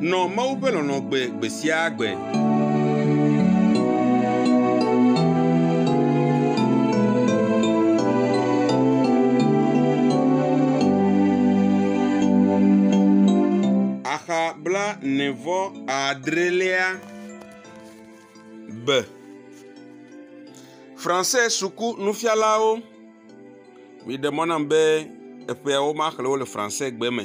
Nɔ Mawu ƒe lɔlɔ̃ gbe gbe sia gbe. Axa blaene-vɔ adrelia be, Français suku nufialawo, miɖe mɔ nam be eƒeawo maxlẽ wo le Français gbe me.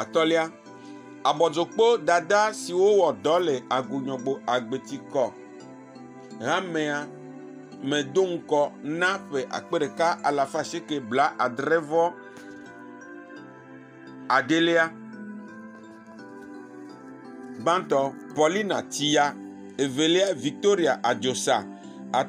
Atɔ̃lia, abɔdzokpo dada siwo wɔ dɔ le agunyɔgbo agbeti kɔ hamea me do ŋkɔ na ƒe akpe ɖeka alafa asieke blaadre vɔ adelia. Gbãtɔ, Paulina Tiya, evelia Victoria Adzosa, at…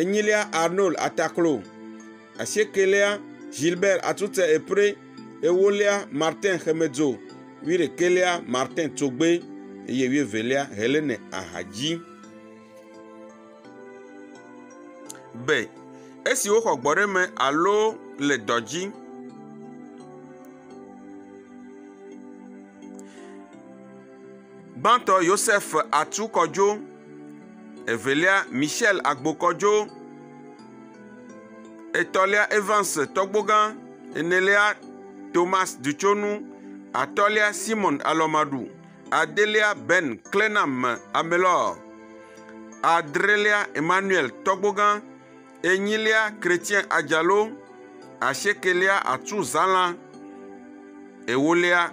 enyilia Arnold Ataklo, asiekɛlia Gilbert Atutse Epré, ewolia Martin Xemedzo, wuiɖekɛlia Martin Tsogbé eye wuievelia Helene Ahadji. Be esi woxɔ gbɔɖeme alo le dɔ dzi. Gbãtɔ Yosef Atsu kɔdzo, evelia Michel Agbo kɔdzo, etɔ̃lia Evans Tɔgbogã, enelia Thomas Dutsonu, atɔ̃lia Simon Alɔmaɖu, adelia Ben Klenam Amelɔ, adrelia Emmanuel Tɔgbogã, enyilia Chrétien Adzalo, asiekelia Atsu Zala, ewolia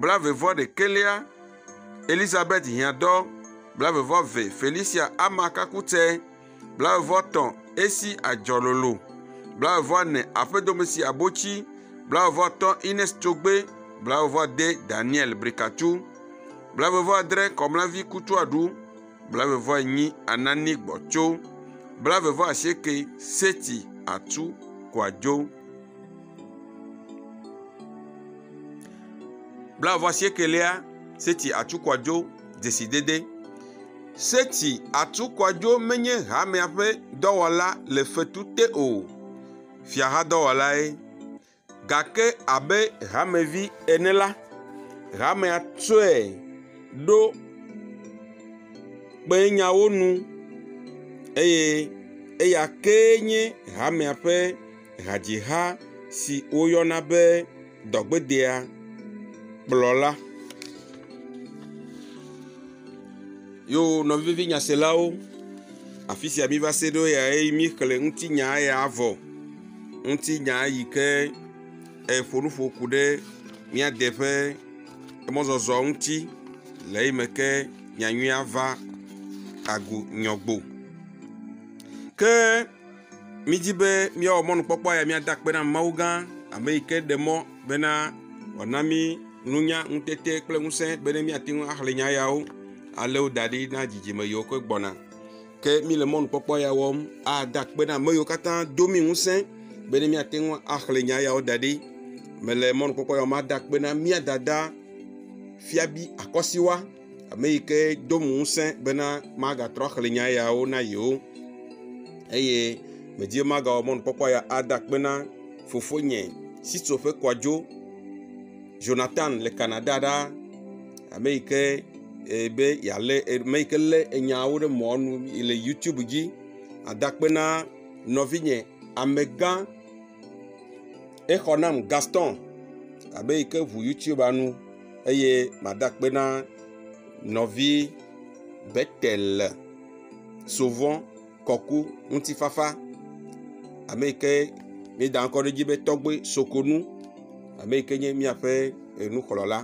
blaeve-vɔ-ɖekɛlia, Elizabeth hiãdɔ, blaeve-vɔ-ve, Felicia ama kakutse, blaeve-vɔ-tɔ̃, esi adzɔ lolo, blaeve-vɔ-ne, aƒedomesi abotsi, blaeve-vɔ-atɔ̃, Ines Tsogbe, blaeve-vɔ-ade, Daniel Brikatu, blaeve-vɔ-adre, Kɔmlavi Kutuaɖu, blaeve-vɔ-enyi, Anani Gbɔtso, blaeve-vɔ-asieke, Seti Atu Kɔadzo. Blaeve asiekɛlia, seti atsukɔdzo dzesidede. Seti atsukɔdzo menye hamea ƒe dɔwɔla le fetu te o. Fiahadɔwɔlae. Gake abe hamevi ene la, hamea tsɔe ɖo kpee nyawo nu eye eya kee nye hamea ƒe. hadziha si woyɔna be dɔgbedea kplɔ la. Yo nɔvivi nyaselawo, afi sia miva se ɖo ya ye míexlẽ ŋutinya ya vɔ, ŋutinya yi ke eƒo nu ƒo ku ɖe mía de ƒe emɔzɔzɔ ŋuti le eyi me ke nya nyui ava agu nyɔgbo. Ke. Mídi be míawɔ mɔnukpɔkpɔ ya míada akpe na Mawu gã, ame yi ke ɖe mɔ bena wòana mí nunya, ŋutete kple ŋusẽ bene míate ŋu axlẽ nya yawo alé wo da ɖi na dzidzime yiwo ke gbɔna. Ke míle mɔnukpɔkpɔ ya wɔm ada akpe na ame yiwo katã do mí ŋusẽ bene míate ŋu axlẽ nya yawo da ɖi. Mele mɔnukpɔkpɔ ya wɔm ada akpe na mía dada Fiabi Akɔsiwa. ame yi ke do ŋu ŋusẽ bena magatrɔ axlẽ nya yawo na yewo eye medi be magawɔ mɔnukpɔkpɔ ya ada akpe na fofonye si tso ƒe kɔa dzo Ʒonatan le Canada ɖa ame yi ke e be yealé ame yi ke lé enyawo ɖe mɔa nu le youtube dzi ada akpe na nɔvinye amegã exɔ nam Gaston ame yi ke ŋu youtubea nu. eye mada akpe na nɔvi Betel le sovɔ kɔku ŋutifafa ame yi ke míeda ŋkɔ ɖe edzi be tɔgbe sokonu ame yi ke nye míaƒe enukplɔla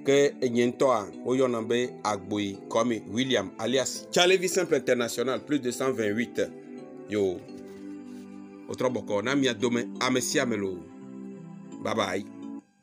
ke enyee ŋutɔa woyɔnam be Agboyi Kwame William alias Tsalevi Simple International plus 228 yo wotrɔ bɔkɔ na mia dome ame sia ame loo babayi.